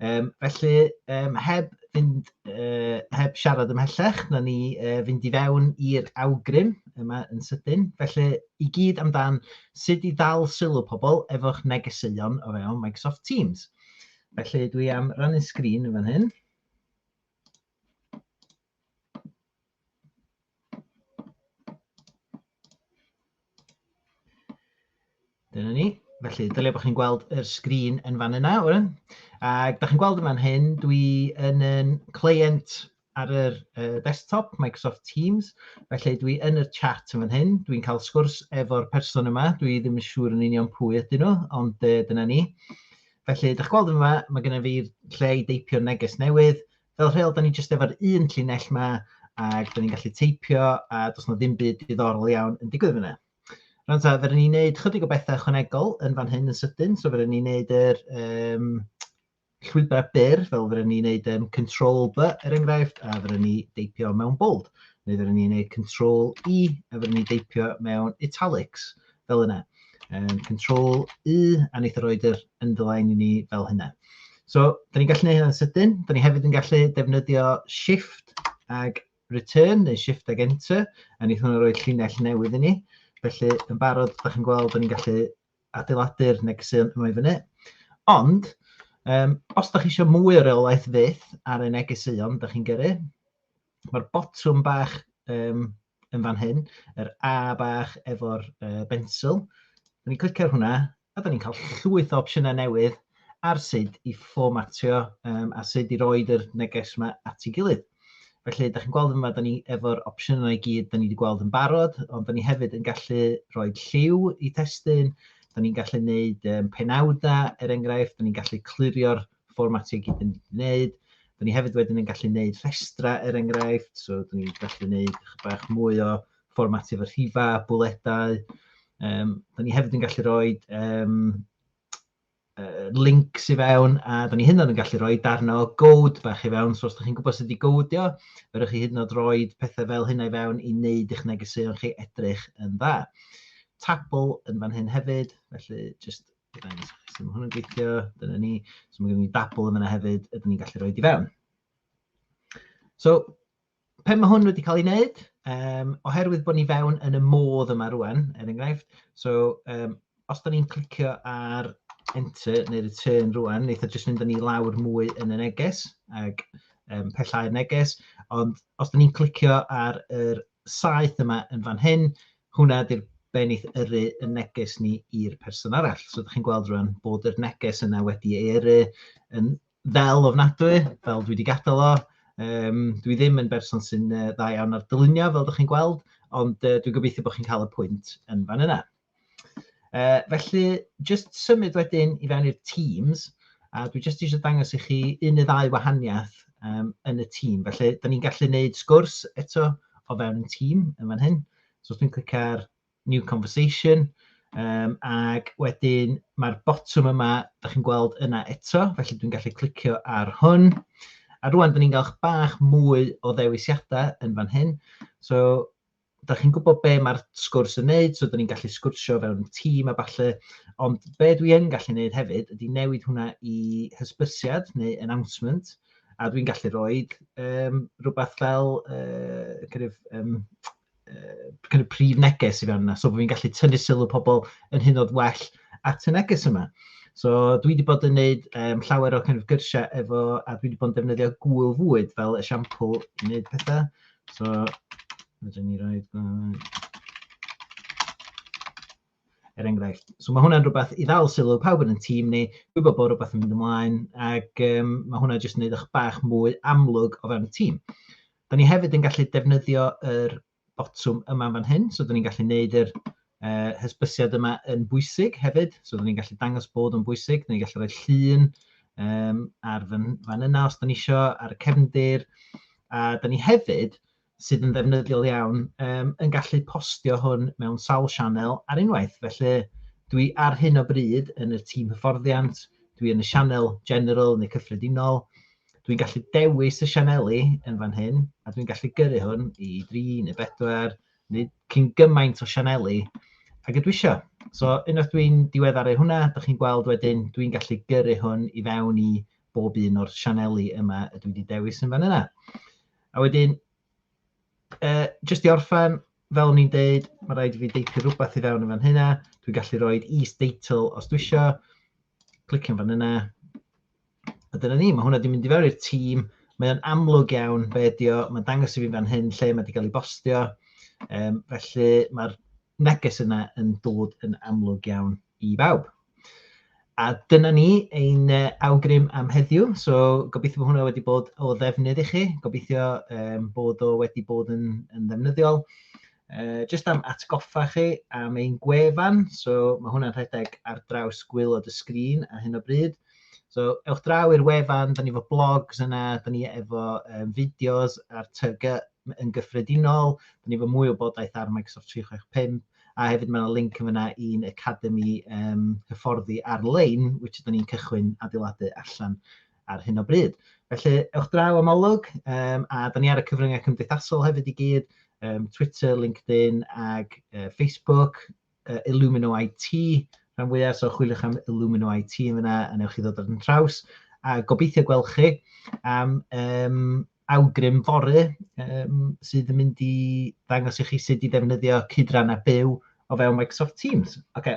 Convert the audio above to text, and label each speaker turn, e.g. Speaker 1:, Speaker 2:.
Speaker 1: Um, felly, um, heb, fynd, uh, heb siarad ymhellach, na ni uh, fynd i fewn i'r awgrym yma yn sydyn. Felly, i gyd amdan sut i ddal sylw pobl efo'ch negeseuon o fewn Microsoft Teams. Felly, dwi am rannu sgrin yn fan hyn. Dyna ni. Felly, dylia bod chi'n gweld yr sgrin yn fan yna, Oren. Ac da chi'n gweld yn fan hyn, dwi yn yn client ar yr uh, desktop, Microsoft Teams. Felly, dwi yn yr chat yn fan hyn. Dwi'n cael sgwrs efo'r person yma. Dwi ddim yn siŵr yn union pwy ydyn nhw, ond uh, dyna ni. Felly, da chi'n gweld yma, mae gennym fi'r lle i deipio neges newydd. fel rheol, da ni jyst efo'r un llinell ma, ac da ni'n gallu teipio, a does na ddim byd diddorol iawn yn digwydd fyna. Rhaid ta, fe ni'n neud chydig o bethau ychwanegol yn fan hyn yn sydyn, so fe ni'n neud yr um, llwybrau byr, fel fe ni'n neud um, control B er enghraifft, a fe ni deipio mewn bold, neu fe ni'n neud control E, a fe ni'n deipio mewn italics. fel yna. Um, control U, a wneud o roed yr underline i ni fel hynna. So, da ni'n gallu gwneud hynny'n sydyn. Da ni hefyd yn gallu defnyddio shift ag return, neu shift ag enter, a wneud hwnna roed llinell newydd i ni. Felly, yn barod, da chi'n gweld, da ni'n gallu adeiladu'r negeseuon yma i fyny. Ond, um, os da chi eisiau mwy o reolaeth fydd ar y negeseuon da chi'n gyrru, Mae'r botwm bach um, yn fan hyn, yr A bach efo'r uh, bensil. Da ni'n clicio ar hwnna, a da ni'n cael llwyth o opsiynau newydd ar sut i fformatio um, a sut i roed yr neges yma at ei gilydd. Felly, da chi'n gweld yma, da ni efo'r opsiynau i gyd, da ni wedi gweld yn barod, ond da ni hefyd yn gallu rhoi lliw i testyn, da ni'n gallu gwneud um, penawdau, er enghraifft, da ni'n gallu clirio'r fformatio i gyd yn wneud. Dyn ni hefyd wedyn yn gallu gwneud rhestra er enghraifft, so dyn ni'n gallu gwneud bach mwy o fformatio fy rhifa, bwledau. Um, dyn ni hefyd yn gallu rhoi um, uh, links i fewn, a dyn ni hyn yn gallu rhoi darn o gowd bach i fewn, so os ydych chi'n gwybod sut wedi gowdio, fyrwch chi hyd yn oed roi pethau fel hynna i fewn i wneud eich negeseuon chi edrych yn dda. Tabl yn fan hyn hefyd, felly jyst Dangos i chi sut mae hwn yn gweithio. Dyna ni. So mae gen ni dabl yn yna hefyd, ydyn ni'n gallu rhoi di fewn. So, pen mae hwn wedi cael ei wneud, um, oherwydd bod ni fewn yn y modd yma rwan, er enghraifft, so um, os da ni'n clicio ar enter neu return rwan, neitha jyst mynd â ni lawr mwy yn y neges, ac um, pellau'r neges, ond os da ni'n clicio ar yr saeth yma yn fan hyn, hwnna ydy'r benith yrru y neges ni i'r person arall. So ydych chi'n gweld rwan bod yr neges yna wedi ei yrru yn fel ofnadwy, fel dwi wedi gadael o. Um, dwi ddim yn berson sy'n uh, dda iawn ar dylunio, fel ydych chi'n gweld, ond uh, dwi'n gobeithio bod chi'n cael y pwynt yn fan yna. Uh, felly, jyst symud wedyn i fewn i'r Teams, a dwi jyst eisiau dangos i chi un neu ddau wahaniaeth um, yn y tîm. Felly, da ni'n gallu gwneud sgwrs eto o fewn y tîm yn fan hyn. So, os dwi'n clicio ar New Conversation, um, ac wedyn mae'r botwm yma, da chi'n gweld yna eto, felly dwi'n gallu clicio ar hwn. A rwan, da ni'n galwch bach mwy o ddewisiadau yn fan hyn. So, dach chi'n gwybod be mae'r sgwrs yn wneud, so dyn ni'n gallu sgwrsio fewn tîm a falle, ond be dwi yn gallu wneud hefyd ydy newid hwnna i hysbysiad neu announcement, a dwi'n gallu rhoi um, rhywbeth fel uh, kind of, um, uh, kind of prif neges i fewn yna, so fi'n gallu tynnu sylw pobl yn hyn oed well at y neges yma. So dwi wedi bod yn gwneud um, llawer o kind of gyrsiau efo, a dwi wedi bod yn defnyddio gwyl fwyd fel esiampl i wneud pethau. So, rydyn ni rhaid... Er enghraifft, so mae hwnna'n rhywbeth i ddal sylw pawb yn y tîm ni, gwybod bod rhywbeth yn mynd ymlaen, ac um, mae hwnna jyst yn gwneud eich bach mwy amlwg o fewn y tîm. Da ni hefyd yn gallu defnyddio yr botwm yma fan hyn, so da ni'n gallu gwneud yr uh, hysbysiad yma yn bwysig hefyd, so dyn ni'n gallu dangos bod yn bwysig, dyn ni'n gallu rhoi llun um, ar fan, fan yna os dyn ni isio, ar y cefndir, a dyn ni hefyd, sydd yn ddefnyddiol iawn, um, yn gallu postio hwn mewn sawl sianel ar unwaith. Felly, dwi ar hyn o bryd yn y tîm hyfforddiant, dwi yn y sianel general neu cyffredinol, dwi'n gallu dewis y sianeli yn fan hyn, a dwi'n gallu gyrru hwn i 3 neu 4, Nid cyn gymaint o sianeli ag ydw isio. So unwaith dwi'n diweddaru hwnna, dych chi'n gweld wedyn, dwi'n gallu gyrru hwn i fewn i bob un o'r sianeli yma y dwi wedi dewis yn fan yna. A wedyn, uh, jyst i orffan, fel o'n i'n deud, mae rhaid i fi deipio rhywbeth i fewn yn fan hynna. Dwi'n gallu rhoi is-deitl os dwi isio. Clicio'n fan yna. A dyna ni, mae hwnna wedi mynd i fewn i'r tîm. Mae o'n amlwg iawn be ydi o. Mae'n dangos i fi fan hyn lle mae wedi cael ei bostio. Um, felly mae'r neges yna yn dod yn amlwg iawn i bawb. A dyna ni ein uh, awgrym am heddiw. So gobeithio bod hwnna wedi bod o ddefnydd i chi. Gobeithio um, bod o wedi bod yn, yn ddefnyddiol. Uh, just am atgoffa chi am ein gwefan, so mae hwnna'n rhedeg ar draws gwylod y sgrin a hyn o bryd. So ewch draw i'r wefan, da ni efo blogs yna, da ni efo um, fideos ar TG yn gyffredinol, da ni efo mwy o bodaeth ar Microsoft 365, a hefyd mae'n link yn fyna i'n Academy um, hyfforddi ar-lein, which da ni'n cychwyn adeiladu allan ar hyn o bryd. Felly, ewch draw am olwg, um, a da ni ar y cyfryngau cymdeithasol hefyd i gyd, um, Twitter, LinkedIn ac uh, Facebook, uh, Illumino IT, rhan fwyaf, so chwiliwch am Illumino IT yn fyna, a newch chi ddod ar yn traws, a gobeithio gweld chi am um, awgrym fory um, sydd yn mynd i ddangos i chi sut i ddefnyddio cydran a byw o fewn Microsoft Teams. Okay.